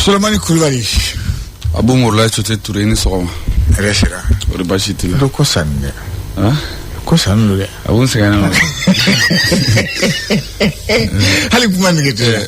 Sulemani kulubali abu murula cote ture ni sɔgɔma hɛrɛ sira kori baasi t'i la do ko sanni dɛ han? ko sanni do dɛ abu n sɛgɛnna hali kuma nege tɛ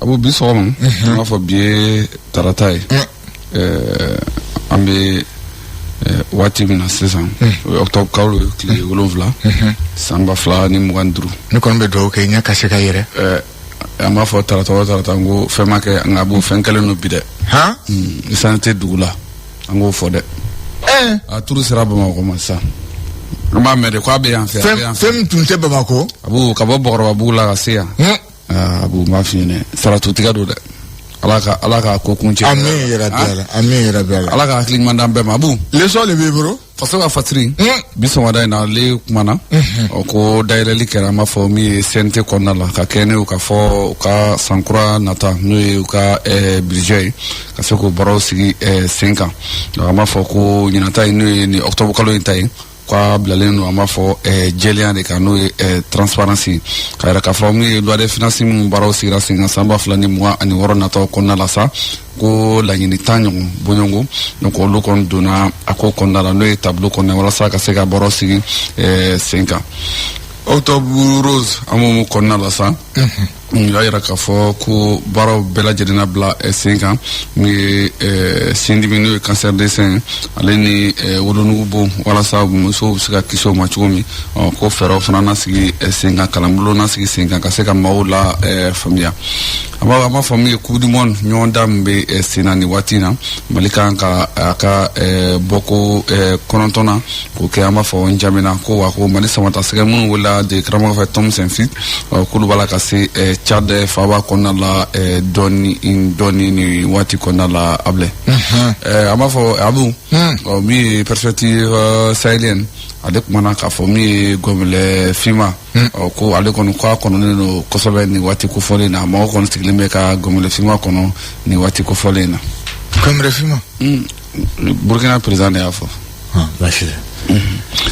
abu bi sɔgɔma an b'a fɔ bi ye tarata ye an bɛ waati min na sisan o ye octobre kalo tile wolonwula san ba fila ni mugan ni duuru ne kɔni bɛ dugawu kɛ ɲɛ ka se ka yɛrɛ an b'a fɔ tarata o tarata n ko fɛn ma kɛ nka abu fɛn kɛlen don bi dɛ han esansi tɛ dugu la an k'o fɔ dɛ ɛɛ a turu sera bamakɔ ma sisan an b'a mɛn de ko a bɛ yan fɛ a bɛ fɛn yan fɛ fɛn min tun tɛ bamakɔ abu ka bɔ bɔkɔrɔbabugu la ka se yan hun aa abu n b'a f'i ɲɛna saratutigɛ don dɛ ala ka ala ka ko kuncɛ amiina yarabi ala amiina yarabi ala ala ka hakili ɲuman d'an bɛɛ ma abu l'essor de b'i bolo faso ka fasiri Mm. bi sɔgɔmada in na ale kumana ɔ ko dayɛlɛli kɛra an b'a fɔ min ye cnt kɔnɔna la ka kɛɲɛ ni u ka fɔ u ka sankura nata n'o ye u ka eh, budget ye ka se k'o baaraw sigi eh, sen kan Donc an b'a fɔ ko ɲinan ta in n'o ye nin octobre kalo in ta ye k'a bilalen don an b'a fɔ eh, jɛlenya de kan n'o ye eh, transparence ye k'a yira k'a fɔ min ye loi de finance minnu baaraw sigira sen kan san ba fila ni mugan ani wɔɔrɔ nataw kɔnɔna la sa ko laɲini tan ɲɔgɔn bɔɲɔgɔnko donc olu kɔni donna a ko kɔnɔna la n'o ye tableau kɔnɔna ye walasa ka se ka baaraw sigi eh, sen kan octobre rose an bɛ min kɔnɔna la sa u y'a yira k'a fɔ ko baaraw bɛɛ lajɛlen na bila eh, sen kan min ye eh, sindimi n'o ye cancer du sein ale ni eh, wolonugu bɔn walasa musow bɛ se ka kisi o ma cogo min ɔ ko fɛɛrɛw fana na sigi sen kan kalanbolo na sigi sen kan ka se ka maaw lafaamuya an b'a an b'a fɔ min ye coupe du monde ɲɔgɔndan min bɛ sen na nin waati in na mali kan ka a ka bɔko kɔnɔntɔnnan k'o kɛ an b'a fɔ njamena ko wa ko mali samatasɛgɛ minnu welela de karamɔgɔ fɛ tom saintfiet k'olu b'a la ka se tchad faaba kɔnɔna la dɔɔni dɔɔni nin waati kɔnɔna la abilɛ an b'a fɔ abu min ye perspective sahelienne ale kumana k'a fɔ min ye gɔnbɛlɛ finman ɔ ko ale kɔni k'a kɔnɔnen don kosɛbɛ nin waati kofɔlen in na mɔgɔ kɔni sigilen bɛ ka gɔnbɛlɛ finman kɔnɔ nin waati kofɔlen in na gɔnbɛlɛ finman burukina perezan de y'a fɔ baasi tɛ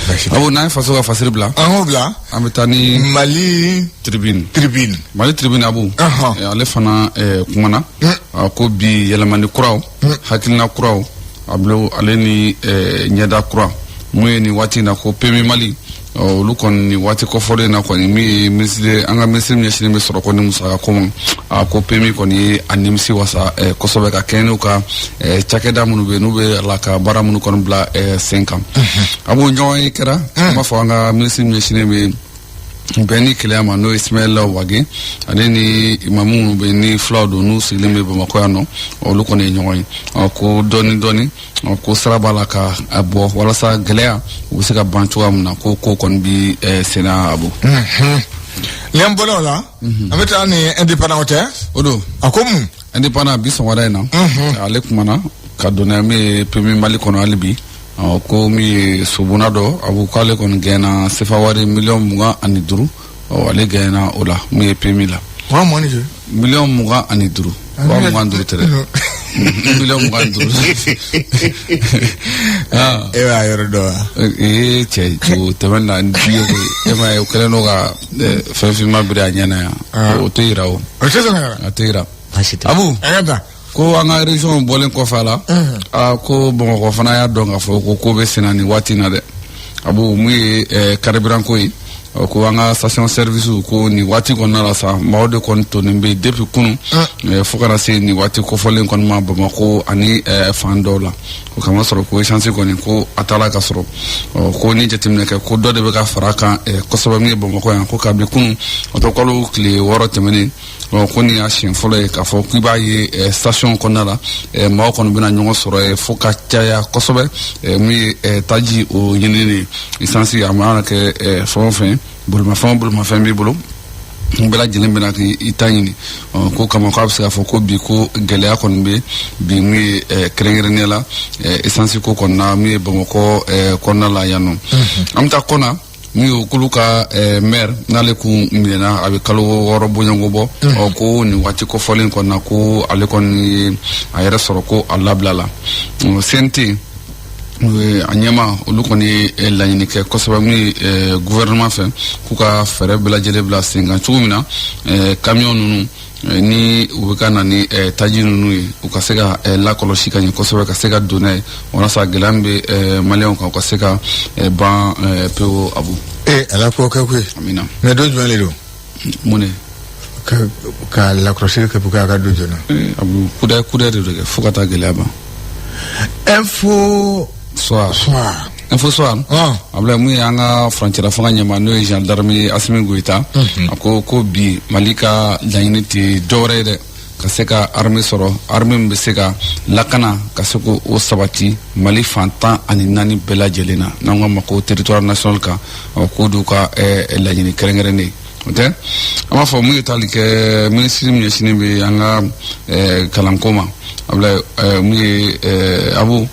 baasi tɛ abu n'an ye faso ka fasiri bila an k'o bila an bɛ taa ni mali tribune tribune mali tribune abu Ɔhɔn. eh, ale fana eh, kumana a ko bi yɛlɛmani kuraw hakilina kuraw a bilo ale ni eh, ɲɛda kura mun ye nin waati in na ko pmu mali ɔ olu kɔni nin waati kofɔlen in na kɔni min ye minisiri an ka minisiri min ɲɛsinnen bɛ sɔrɔ ko ni musaka ko ma a ko PMU kɔni ye a nimisi wasa eh, kosɛbɛ ka kɛɲɛ n'u ka eh, cakɛda minnu bɛ yen n'u bɛ a la ka baara minnu kɔni bila eh, sen kan abu ɲɔgɔnye kɛra an b'a fɔ an ka minisiri min ɲɛsinnen bɛ bɛn ni kelenya ma n'o ye ismaila wage ale ni imamu minnu bɛ ni fulaw don n'u sigilen bɛ bamakɔ yan nɔ olu kɔni ye ɲɔgɔn ye ɔ ko dɔɔni dɔɔni ɔ, ko sira b'a la ka a bɔ walasa gɛlɛya u bɛ se ka ban cogoya min na ko ko kɔni bɛ eh, senna abu n'an bɔra o la an bɛ taa ni indépendant tɛ o dun a ko mun indépendant bi sɔgɔmada in na ale kumana ka donna min ye PMU mali kɔnɔ hali bi ɔ, ko min ye sobonna dɔ abu k'ale kɔni gaɲɛna sefa wari miliyɔn mugan ani duuru ɔ ale gaɲɛna o la mun ye PMU la wa mɔni ni kɛ miliyɔn mugan ani duuru wa mugan duuru tɛ dɛ miliyɔn mugan ni duuru ah. e b'a yɔrɔ dɔn wa ee cɛ cogo tɛmɛna ni diɲɛ ko e ma ye o kɛlen don ka eh, fɛn finma biri a ɲɛ na yan ah. o tɛ yira o a tɛ yira a tɛ yira abu a ka da ko an ka region bɔlen kɔfɛ a la aa ko bamakɔ fana y'a dɔn k'a fɔ ko ko bɛ senna nin waati in na dɛ abu min ye eh, carburant ko ye ɔ, ko an ka station service ko nin waati kɔnɔna la sa maaw de kɔni tonnen bɛ yen depuis kunu eh, fo ka na se nin waati kofɔlen kɔni ma bamakɔ ani eh, fan dɔw la o k'a masɔrɔ ko essence kɔni ko a t'a la ka sɔrɔ ɔ, ko ni jateminɛ kɛ ko dɔ de bɛ ka fara a kan eh, kosɛbɛ min ye bamakɔ yan ko kabi kunu octobre kalo tile wɔɔrɔ tɛmɛnen ɔ ko nin y'a siɲɛ fɔlɔ ye k'a fɔ k'i b'a ye ɛ station kɔnɔna la ɛ maaw kɔni bɛna ɲɔgɔn sɔrɔ ɛ fo ka caya kosɛbɛ ɛ min ye ɛ taji o ɲinini de ye isansi a mana kɛ ɛ fɛn o fɛn bolimafɛn o bolimafɛn b'i bolo n bɛɛ lajɛlen bɛ na k'i ta ɲini ɔ k'o kama k'a bɛ se k'a fɔ ko bi ko gɛlɛya kɔni bɛ bi min ye ɛ kɛrɛnkɛrɛnnenya la ɛ isansi ko kɔnɔna min ye bamakɔ ɛ kɔnɔna la yan nɔ an bɛ taa kɔna min ye k'olu ka eh, maire n'ale kun minɛna a bɛ kalo wɔɔrɔ bɔɲɔgɔnko bɔ mm. ɔ ko nin waati kofɔlen kɔnɔna ko ale kɔni ye a yɛrɛ sɔrɔ ko a labilala CNT a ɲɛmaaw olu kɔni ye eh, laɲini kɛ kosɛbɛ min ye eh, gouvernement fɛ k'u ka fɛɛrɛ bɛɛ lajɛlen bila sen kan cogo min na kamiyɔn ninnu Eh, ni u bɛ ka na ni eh, taji ninnu ye u ka se ka eh, lakɔlɔsi ka ɲɛ kosɛbɛ ka se ka don n'a ye walasa gɛlɛya min bɛ eh, maliyɛnw kan u ka se ka eh, ban eh, pewu abu ee ala k'o kɛ koyi amina mais don jumɛn de don mun de ka ka lakɔlɔsili kɛ pour que a ka don joona Eh, abu kudɛ kudɛ de don kɛ fo ka taa gɛlɛya ban info soit soir Info soir abila mun y'an ka furancɛ fanga ɲɛmaa n'o ye général d'armée asimi goyita a ko ko bi mali ka laɲini tɛ dɔwɛrɛ ye dɛ ka se ka armée sɔrɔ armée min bɛ se ka lakana ka se k'o sabati mali fan tan ani naani bɛɛ lajɛlen na n'an k'a ma ko territoire national kan k'o d'u ka laɲini kɛrɛnkɛrɛnnen o tɛ an b'a fɔ mun ye tali kɛ minisiri min ɲɛsinnen bɛ an ka kalanko ma abila mun ye abu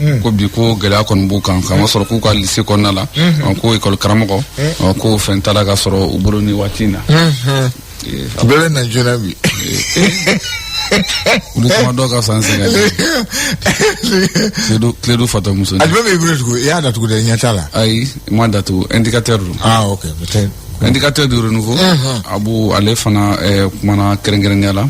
Mm. ko bi ko gɛlɛya kɔni b'u kan k'a masɔrɔ k'u ka lise kɔnɔna la mm-hmm. ko ekɔli karamɔgɔ mm. ko fɛn t'a la ka sɔrɔ u bolo ni waati in na mm-hmm. bɛɛ na joona bi olu kuma dɔw ka san sɛgɛn kledu fatɔ muso a jumɛn b'i bolo tugu i y'a datugu dɛ ɲɛ t'a la ayi n m'a datugu indicateur don ah ok indicateur du renouveau abu ale fana eh, kumana kɛrɛnkɛrɛnnenya la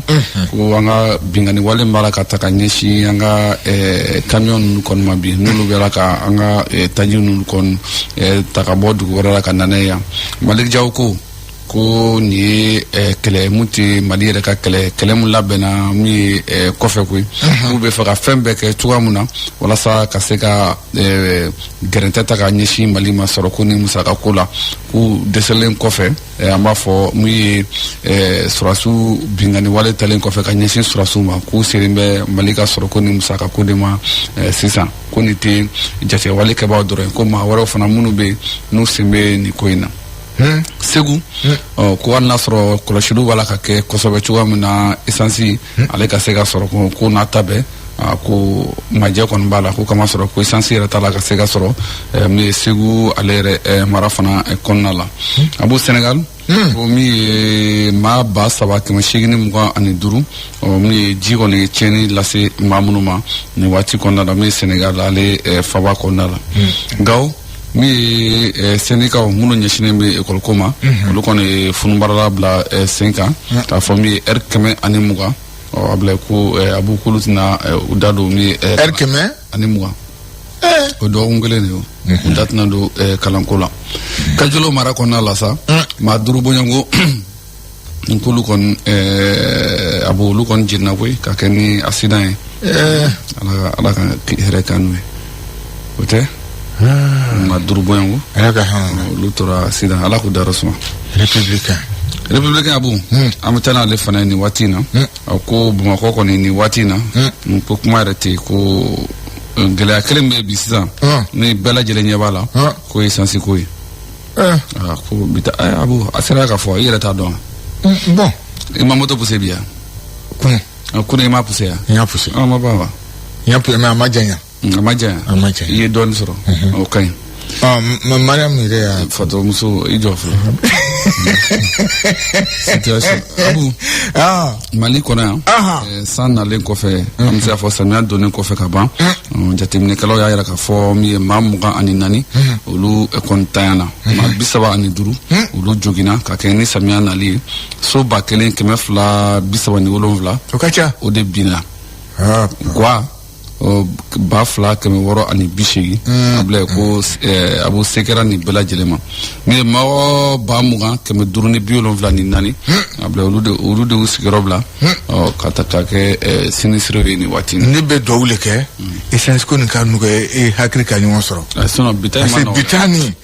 ko an ka binkanni wale min b'a la ka ta ka ɲɛsin an ka eh, camion ninnu kɔni ma bi n'olu b'a la ka an ka eh, taji ninnu kɔni eh, ta ka bɔ dugu wɛrɛ la ka na n'a ye yan malik jaw ko ko nin ye eh, kɛlɛ mun tɛ mali yɛrɛ ka kɛlɛ kɛlɛ mun labɛnna min ye eh, kɔfɛ koyi k'u b'a fɛ ka fɛn bɛɛ kɛ cogoya mun na walasa ka se ka eh, gɛrɛntɛ ta ka ɲɛsin mali ma sɔrɔko ni musakako la k'u dɛsɛlen kɔfɛ eh, an b'a fɔ min ye eh, sɔrɔsiw binkanni wale talen kɔfɛ ka ɲɛsin sɔrɔsiw ma k'u seren bɛ mali ka sɔrɔko ni musakako de ma eh, sisan ko nin tɛ jatigɛwale kɛbaaw dɔrɔn ye ko maa wɛrɛw fana minnu bɛ yen n'u sen bɛ nin ko in na segu ɔ, ko hali n'a sɔrɔ kɔlɔsiliw b'a la k'a kɛ kosɛbɛ cogoya min na esansi ale ka se ka sɔrɔ ko- k'o n'a ta bɛɛ a ko majɛ kɔni b'a la ko k'a masɔrɔ ko esansi yɛrɛ t'a la ka se ka sɔrɔ eh, min ye segu ale yɛrɛ eh, mara fana eh, kɔnɔna la hmm. abu senegal hmm. ko min ye maa ba saba kɛmɛ seegin mugan ani duuru min ye ji kɔni ye tiɲɛni lase maa minnu ma nin waati kɔnɔna la min ye senegal ale faba kɔnɔna la hmm. gawo min ye eh, sɛndikaw minnu ɲɛsinnen bɛ ekɔliko ma mhm. olu kɔni ye fununbaarala bila eh, sen kan mhm. k'a fɔ min ye ɛri kɛmɛ ani mugan ɔ abila ko ɛ abu k'olu tɛna ɛ, u da don min ye ɛri kɛmɛ ani mugan o dɔgɔkun kelen de y'o u da tɛna don ɛ, kalanko la kajolo mara kɔnɔna la sa maa duuru bɔɲɔgɔnko n k'olu kɔni ɛ, abu olu kɔni jenina koyi k'a kɛ ni asidan ye ala ka ala ka hɛrɛ k'an n'u ye o tɛ maa duuru bɔɲɔgɔnko ala ka hɔn olu tora asidan ala k'u dayɔrɔ suma republicain republicain abu an bɛ taa n'ale fana ye nin waati in na a ko bamakɔ kɔni nin waati in na n ko kuma yɛrɛ tɛ yen ko eh, gɛlɛya kelen bɛ yen bi sisan Hɔn. ni bɛɛ lajɛlen ɲɛ b'a la Hɔn. ko esansi ko ye Eh, Ah, ko bi taa eh, abu a sera k'a fɔ i yɛrɛ t'a dɔn wa? mm, bon i ma moto puse bi ya kun Kunun i m'a puse yan n y'a puse an ma ban wa n y'a puse mais a ma janya a ma janya a ma janya i ye dɔɔni sɔrɔ o ka ɲi mais mariam yɛrɛ y'a fatɔmuso i jɔ fɔlɔ situation abu mali kɔnɔ yan eh, san nalen kɔfɛ an bɛ se k'a fɔ samiya donnen kɔfɛ ka ban ɔn, jateminɛkɛlaw y'a yira k'a fɔ min ye maa mugan ani naani olu eh, kɔni tanyana maa bi saba ani duuru olu joginna ka kɛɲɛ ni samiya nali ye so ba kelen kɛmɛ fila bi saba ni wolonwula o ka ca o de binna Ah, gwa ɔ, ba fila kɛmɛ wɔɔrɔ ani bi seegin abilayi ko eh, abu se kɛra nin bɛɛ lajɛlen ma min ye mɔgɔ ba mugan kɛmɛ duuru ni bi wolonwula ni naani abila olu de olu de y'u sigiyɔrɔ bila ɔ, ka ta k'a kɛ eh, sinistréw ye nin waati in na ne bɛ duwawu le kɛ esansi ko nin ka nɔgɔya e hakili ka ɲɔgɔn sɔrɔ Eh, sinon bi ta in ma parce que nɔgɔn dɛ. bitani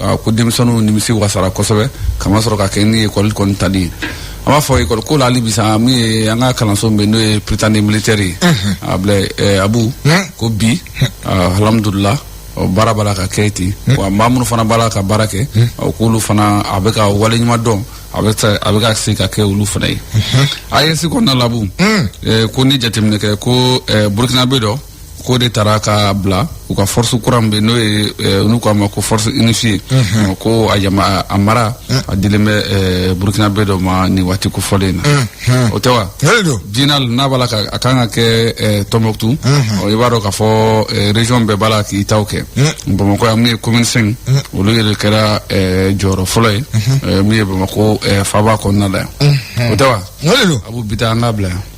a ko denmisɛnninw nimisi wasara kosɛbɛ k'a masɔrɔ ka kɛ ni ekɔli kɔni tali ye an b'a fɔ ekɔli ko la hali bisa min ye an ka kalanso min bɛ n'o ye prytanée militaire ye abila eh, abu ko bi ah, alhamdulila ɔ, baara b'a la ka kɛ ten wa maa minnu fana b'a la ka baara kɛ ɔ, k'olu fana a bɛ ka wale ɲuman dɔn a bɛ se- a bɛ ka se ka kɛ olu fana ye AES kɔnɔna la abu eh, ko ni jateminɛ kɛ ko eh, burkinabè dɔ k'o de tara ka bila u ka force kura min bɛ n'o ye eh, n'u k'a ma ko force unifiée Ɔ, ko a jama a- a mara a dilen bɛ eh, burkinabè dɔ ma nin waati kofɔlen in na o tɛ wa Yali don. biennale n'a b'a la ka a kan ka kɛ eh, tombouctou ɔ, i b'a dɔn k'a fɔ eh, région bɛɛ b'a la k'i taw kɛ bamakɔ yan min ye commune cinq olu yɛrɛ kɛra eh, jɔyɔrɔ fɔlɔ ye eh, min ye bamakɔ eh, faaba kɔnɔna la yan o tɛ wa Yali don. abu bi ta an k'a bila yan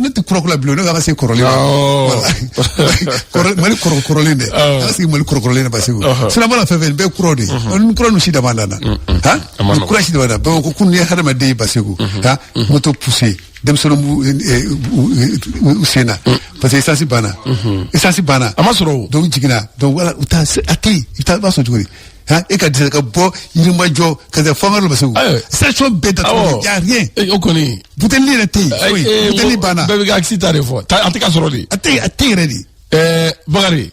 ne tɛ kɔrɔkura bulon ne ka se kɔrɔlen mali kɔrɔkɔrɔlen dɛ ala sigi mali kɔrɔkɔrɔlen ba segu sirabala fɛn fɛn bɛɛ kɔrɔ de kura ninnu si da nana kura si da ko kunun i ye hadamaden ba segu ka moto puse denmisɛnnin sen na parce que esansi banna esansi banna a ma sɔrɔ donc jiginna u a tɛ i b'a sɔrɔ cogo Hein, e ka dɛsɛ ka bɔ yirimajɔ ka se fanga dɔ ba segu Ayiwa. station bɛɛ datugu Awɔ. y'a rien Eh, o kɔni buteli yɛrɛ tɛ yen eh, foyi eh, buteli mo- banna bɛɛ bɛ ka akisi ta de fɔ Ta- a tɛ ka sɔrɔ de a tɛ a tɛ yɛrɛ de ɛɛ bakari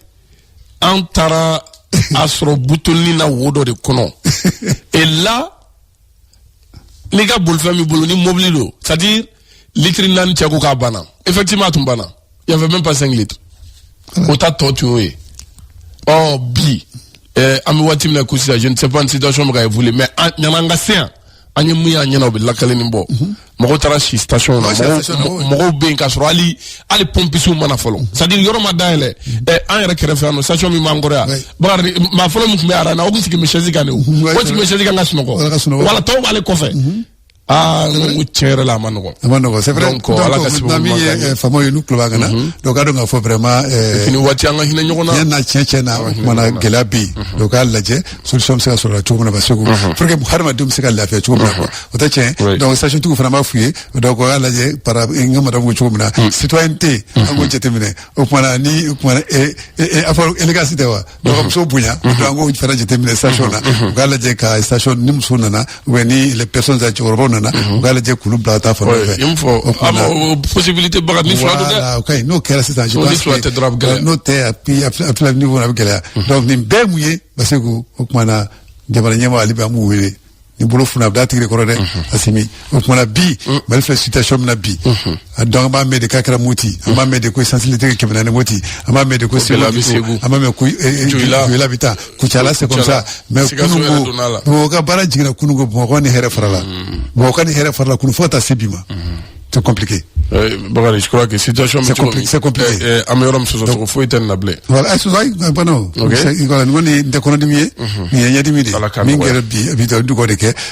an taara a sɔrɔ butelinin na wo dɔ de kɔnɔ et là n'i ka bolifɛn b'i bolo ni mobili don c'est à dire litiri naani cɛ ko k'a banna effectivement a tun banna il y avait même pas cinq litres o ta tɔ tun y'o ye ɔ bi eh, an bɛ waati min na ko sisan je ne sais pas ni situation bɛ ka évoluer mais yanni an ka se yan an ye mun y'an ɲɛ na o bɛ lakalili bɔ mɔgɔw taara si station na mɔgɔw bɛ yen k'a sɔrɔ hali hali pɔmpisiw ma na fɔlɔ c'est à dire yɔrɔ ma dayɛlɛ ɛ an yɛrɛ kɛrɛfɛ yan nɔ station min b'an kɔrɔ yan bakari maa fɔlɔ min tun bɛ rang na o tun sigilen bɛ chaise kan de o o sigilen bɛ chaise kan ka sunɔgɔ wala tɔw b'ale kɔfɛ aa n ko tiɲɛ yɛrɛ la a man nɔgɔ a man nɔgɔ c'est vrai donc ala ka sababu ɲuman min ye faamaw ye n'u tulo b'an kan na donc k'a dɔn k'a fɔ vraiment nin waati an ka hinɛ ɲɔgɔn na tiɲɛ na tiɲɛ tiɲɛ na o kumana gɛlɛya bɛ yen donc k'a lajɛ solution bɛ se ka sɔrɔ la cogo min na parce que mhm. pour que hadamadenw bɛ se ka lafiya cogo min na quoi o tɛ tiɲɛ ye donc station tigiw fana an b'a f'u ye donc u k'a lajɛ para n ka madame ko cogo min na mm. citoyenneté an k'o mhm. jateminɛ o kumana ni o kumana e e a fɔ élégance tɛ wa donc ka muso bonya donc an k'o fana jateminɛ station na u k'a lajɛ ka station ni muso nana ou bien ni les personnes âgées cɛkɔrɔbaw nana u k'a lajɛ k'olu bila ka taa fan dɔ fɛ. i y'o fɔ O tuma na- a ma- o possibilité Bakari ni fila don dɛ Voilà, o ka ɲi n'o kɛra sisan je N'o ni pense fila que- tɛ dɔrɔn a bɛ gɛlɛya. n'o tɛ a bi a fila- a fila niveau na a bɛ gɛlɛya donc nin bɛɛ ye mun ye parce que o kumana jamana ɲɛmaa ale bɛ an b'u wele ni bolo funna a bɛ d'a tigi de kɔrɔ dɛ Asimi o kumana bi Mali filɛ situation min na bi donc an b'a mɛn de k'a kɛra moti an b'a mɛn de ko sansi litiri kɛmɛ naani moti an b'a mɛn de ko segu an b'a mɛn ko joyila bɛ taa kucala c'est comme ça mais kununko bamakɔ ka baara jiginna kununko bamakɔ ni hɛrɛ farala bamakɔ ni hɛrɛ farala kunu fo ka taa se bi ma c'est compliqué. Euh, Bakari, je crois que situation c'est compliqué. C'est compliqué. Euh, euh, amélioration foyi tɛ na bilen. Voilà, ayi sɔsɔ ayi bana o. Ok. Voilà, nin kɔni tɛ kɔnɔdimi ye. Nin ye ɲɛdimi de ye. Ala k'a nɔgɔya. Min kɛra bi an t'o ɲɛ dɔn fɔlɔ dɛ.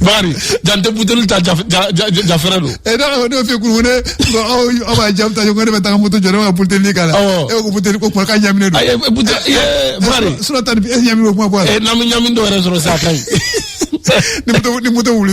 bakari jante buteli ta ja ja ja ja fɛrɛ don ɛ n'a ko ne bɛ fɛ k'u wele ko aw aw b'a jamu ta ko ne bɛ taa moto jɔ ne bɛ ka buteli nin k'a la Awɔ. e ko buteli ko kuma k'a ɲaminen don ayi buteli ye bakari sura tan ni e ɲaminen ko kuma bɔ a la ee n'an bɛ ɲami dɔ yɛrɛ sɔrɔ sa a ka ɲi ni moto ni moto wuli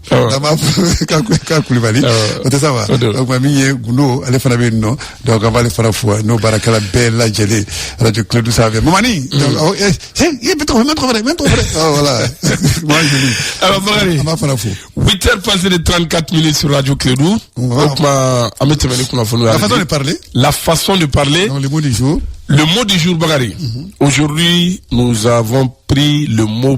Awa. an b'a fɔ k'a Kul- k'a kulubali Awa. o tɛ sa wa O don. o tuma min ye gundo ale fana bɛ yen nɔ donc an b'ale fana fo n'o baarakɛla bɛɛ lajɛlen radio Clédou sanfɛ mamani donc aw eh he ye bɛ tɔgɔ mɛ tɔgɔ fɛnɛ mɛ tɔgɔ fɛnɛ ɔ voilà maa joli Awa, Bakari. an b'a fana fo 8 heures passées de 34 minutes sur Radio Clédou. Wow. Donc, ma, an bɛ tɛmɛ ni kunnafoniw ye. la façon de parler La façon de parler. donc le mot du jour Le mot du jour, Bakari. Aujourd'hui, nous avons pris le mot